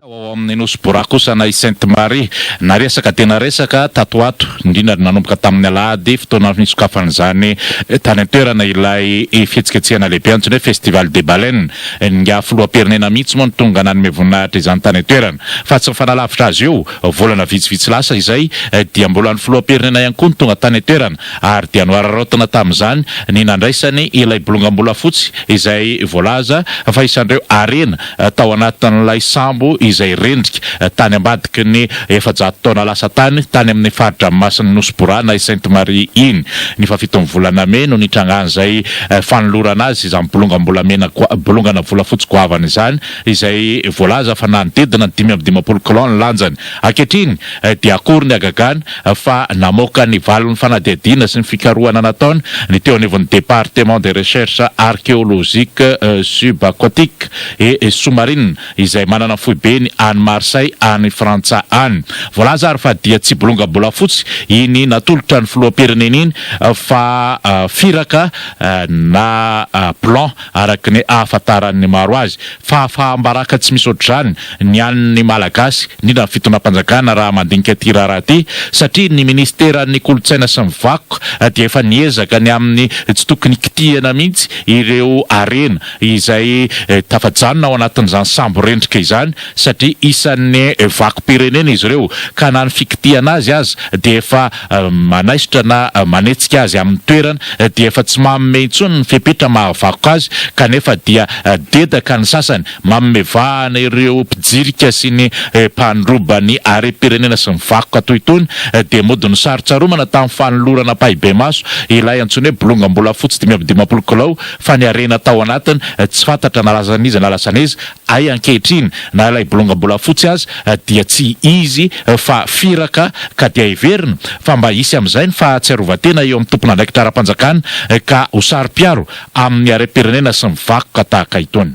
Tao ao amin'ny Nosy Bora kosa na i Sainte Marie, na resaka dia na resaka tato ho ato, indrindra ary nanomboka tamin'ny alahady fotoana nisokafan'izany tany an-toerana ilay fihetsiketsehana lehibe antsoina hoe Festival des Baleines. Ingahy Filoham-pirenena mihitsy moa no tonga nanome voninahitra izany tany an-toerana. Fa tsy nifanalavitra azy io, volana vitsivitsy lasa izay dia mbola ny Filoham-pirenena ihany koa no tonga tany an-toerana ary dia nohararaotina tamin'izany ny nandraisany ilay bolongam-bolafotsy izay voalaza fa isan'ireo harena tao anatin'ilay sambo izay rendrika tany ambadiky ny efajato taona lasa tany, tany amin'ny fari-dranomasin'ny Nosy Borana i Sainte Marie iny. Ny fahafiton'ny volana mey no nitrangan'izay fanolorana azy izany bolongam-bolamena, bolongana volafotsy goavana izany, izay voalaza fa nanodidina ny dimy amby dimampolo kilao ny lanjany. Ankehitriny dia akory ny hagagana fa namoaka ny valin'ny fanadihadiana sy ny fikarohana nataony ny teo anivon'ny Département des Recherches Archéologiques Subaquatiques et Sous-marines izay manana foibeny any Marseille any Frantsa any. Voalaza ary fa dia tsy bolongam-bolafotsy iny natolotra ny filoham-pirenena iny fa firaka na plan Araka ny ahafantaran'ny maro azy, fahafaham-baraka tsy misy ohatr'izany ny an'ny Malagasy, indrindra ny fitondram-panjakana raha mandinika ity raharaha ity, satria ny Minisiteran'ny Kolontsaina sy ny Vakoka dia efa niezaka ny amin'ny tsy tokony kitihana mihitsy ireo harena izay tafajanona ao anatin'izany sambo rendrika izany satria isan'ny vakom-pirenena izy ireo ka na ny fikitihana azy aza dia efa manaisotra na manetsika azy amin'ny toerany dia efa tsy manome intsony ny fepetra mahavakoka azy kanefa dia dedaka ny sasany manome vahana ireo mpijirika sy ny mpandroba ny harem-pirenena sy ny vakoka toy itony dia mody nosarotsaromana tamin'ny fanolorana ampahibemaso ilay antsoina hoe bolongam-bolafotsy dimy amby dimampolo kilao fa ny harena tao anatiny tsy fantatra na lasan'iza na lasan'iza Hay ankehitriny na ilay bolongam-bolafotsy aza dia tsy izy fa firaka ka dia heverina fa mba hisy amin'izay ny fahatsiarovan-tena eo amin'ny tompon'andraikitra ara-panjakana ka ho saro-piaro amin'ny harem-pirenena sy ny vakoka tahaka itony.